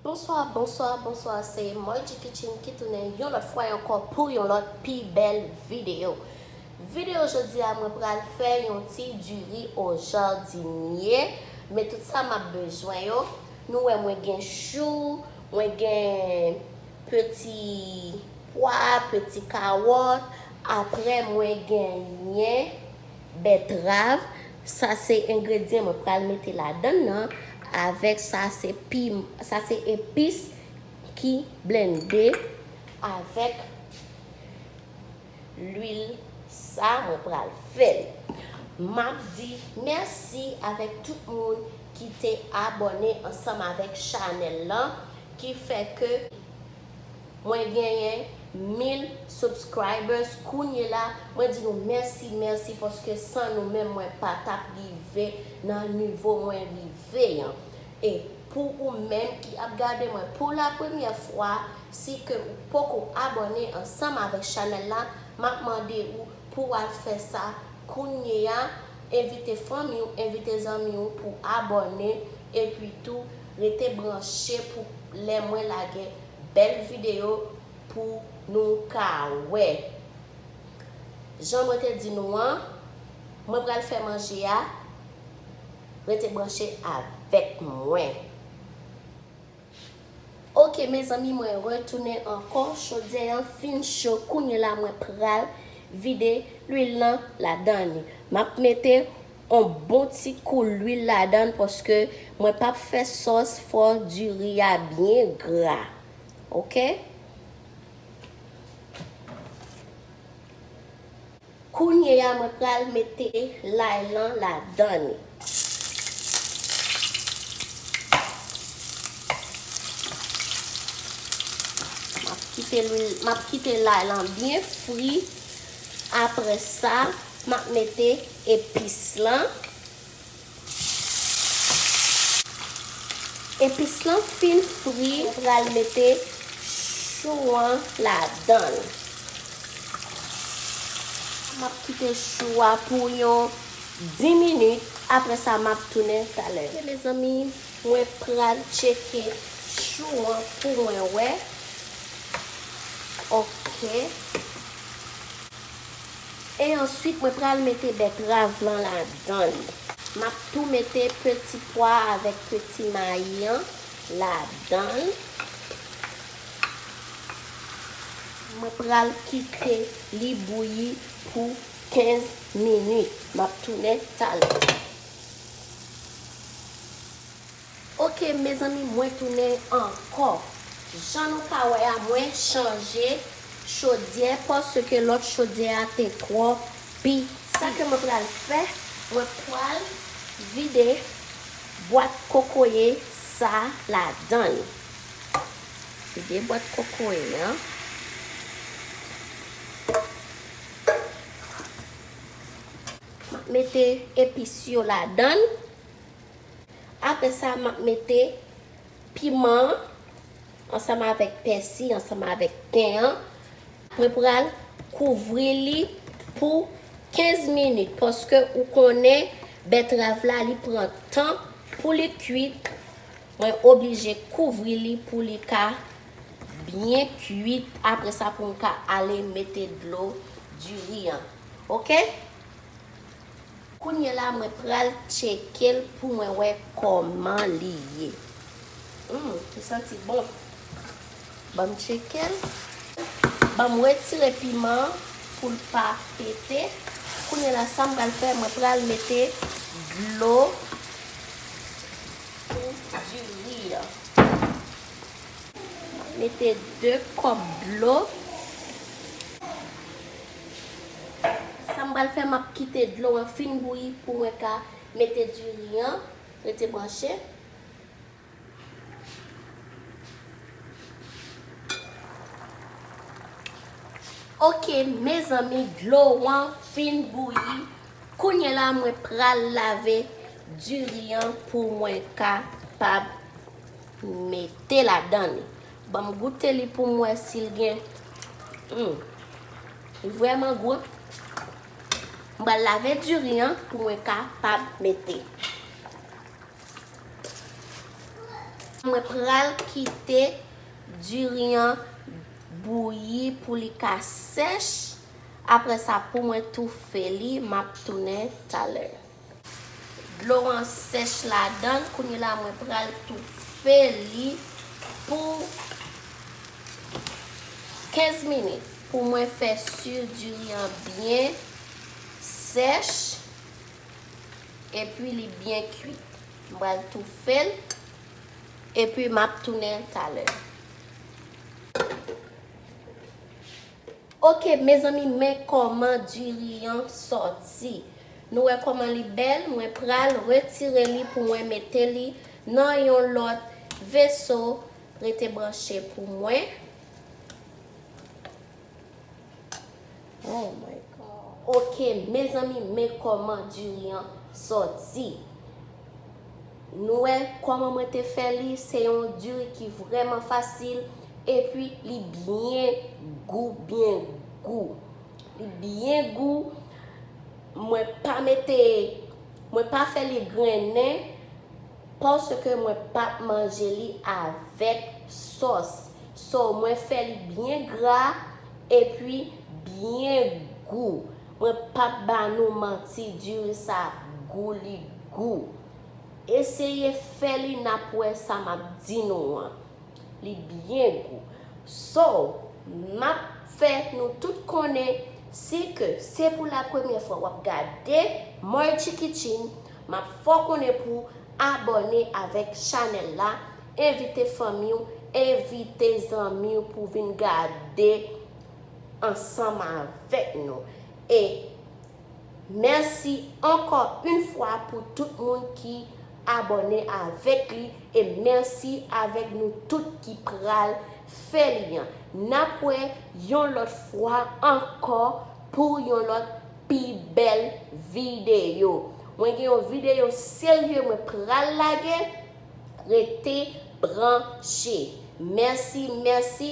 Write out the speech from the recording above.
Bonswa bonswa bonswa se Margie Kitchen ki tounen yon lòt fwa ankò pou yon lòt pi bèl video Video jodi a mwen pral fè yon ti diri o jardinier men tout sa map bezwen yo nou wè mwen gen chou Mwen gen peti pwa, peti kawòt, aprè mwen genyen bètrav, sa se engredyen mwen pral mete ladann nan avèk sa se pim, sa se epis ki blende avèk. lwil sa mwen pral fel. Map di merci avek tout moun ki te abone ansanm avek chanel lan ki fe ke mwen genyen 1000 subscribers kounye la mwen di nou merci merci paske san nou menm mwen patap rive nan nivo mwen rive yan E pou ou menm ki ap gade mwen pou la premyè fwa, si ke ou poko abòne ansanm avèk chanèl la, map mande ou pou ou al fè sa kounyeya, envite fanmi ou, envite zanmi ou pou abòne, epi tou rete branche pou lè mwen lage bèl videyo pou nou ka wè. Jan mwen te di nou an, mwen pral fè manje a. Rete branche avek mwen. Ok mezanmi mwen retounen ankò chodyè an fin cho kounye la mwen pral vide lwil nan ladan li map mete on bon ti kou lwil ladan paske mwen pap fè sòs fò diri a byen gra ok. Kounye a mwen pral mete lay lan ladan li. Map kite lwil, map kite lay lan byen fri. Aprè sa map mete epis lan. Epis lan fin fri ou pral mete chou an ladanl. Map kite chou a pou yon 10 minit apre sa map tounen talè. Ok mezanmi mwen pral tcheke chou an pou mwen wè ok. E answit mwen pral mete bètrav lan ladann. Map tou mete peti pwa avèk peti mayi an ladann. Mwen pral kite li bouyi pou 15 minit. Map tounen talè. Ok mezanmi mwen tounen ankò. Jan nou ka wè a mwen chanje chodyè paske lòt chodyè a te twò piti. Sa ke mwen pral fè, mwen pral vide bwat kokoye sa ladann. Vide bwat kokoye an. Map mete epis yo ladann. Apre sa map mete piman an ansanm avèk pèsi ansanm avèk ten an. Mwen pral kouvri li pou 15 minit paske ou konnen bètrav la li pran tan pou li kuit. Mwen oblije kouvri li pou li ka byen kuit apre sa pou m ka ale mete dlo diri an. Ok. Kounye la mwen pral tchekel pou mwen wè kòman li ye humm li santi bon banm tchekel banm retire piman an poul pa pete kounye la sam pral fè mwen pral mete dlo pou di ri an mete 2 kòp dlo. Sam pral fè map kite dlo an fin bouyi pou mwen ka mete diri an rete branche. Ok mezanmi dlo an fin bouyi kounye la mwen pral lave diri an pou mwen kapab mete ladan li. Banm goute li poum wè sil gen Humm li vrèman gou an M pral lave diri an pou mwen kapab mete Mwen pral kite diri an bouyi pou li ka sèch aprè sa pou mwen toufe li map tounen talè. Dlo an sèch ladann kounye la mwen pral toufe li pou 15 minit pou mwen fè su diri an byen sèch epi li byen kuit m pral toufel epi map tounen talè. Ok mezanmi men kòman diri an sòti nou wè kòman li bèl mwen pral retire li pou mwen mete li nan yon lòt veso rete branche pou mwen oh my god ok mezanmi men kòman diri an sòti. Nou wè kòman mwen te fè li, se yon diri ki vrèman fasil epi li byen gou, byen gou. Li byen gou, mwen pa mete, mwen pa fè li grennen paske mwen pa p manje li avèk sòs. So mwen fè li byen gra epi byen gou. Mwen pap ba nou manti diri sa ap gou li gou. Eseye fè li nap wè sa map di nou an. Li byen gou. So, map fè nou tout konnen si ke se pou la premyè fwa wap gade Moy Chikichin map fè w konnen pou abòne avèk chanèl la, envite fanmi w, envite zanmi w pou vin gade ansanm avèk nou e mèsi ankò yn fwa pou tout moun ki abòne avèk li e mèsi avèk nou tout ki pral fè li an nap wè yon lòt fwa ankò pou yon lòt pi bèl videyo mwen gen yon videyo serye mwen pral lage rete branche mèsi mèsi.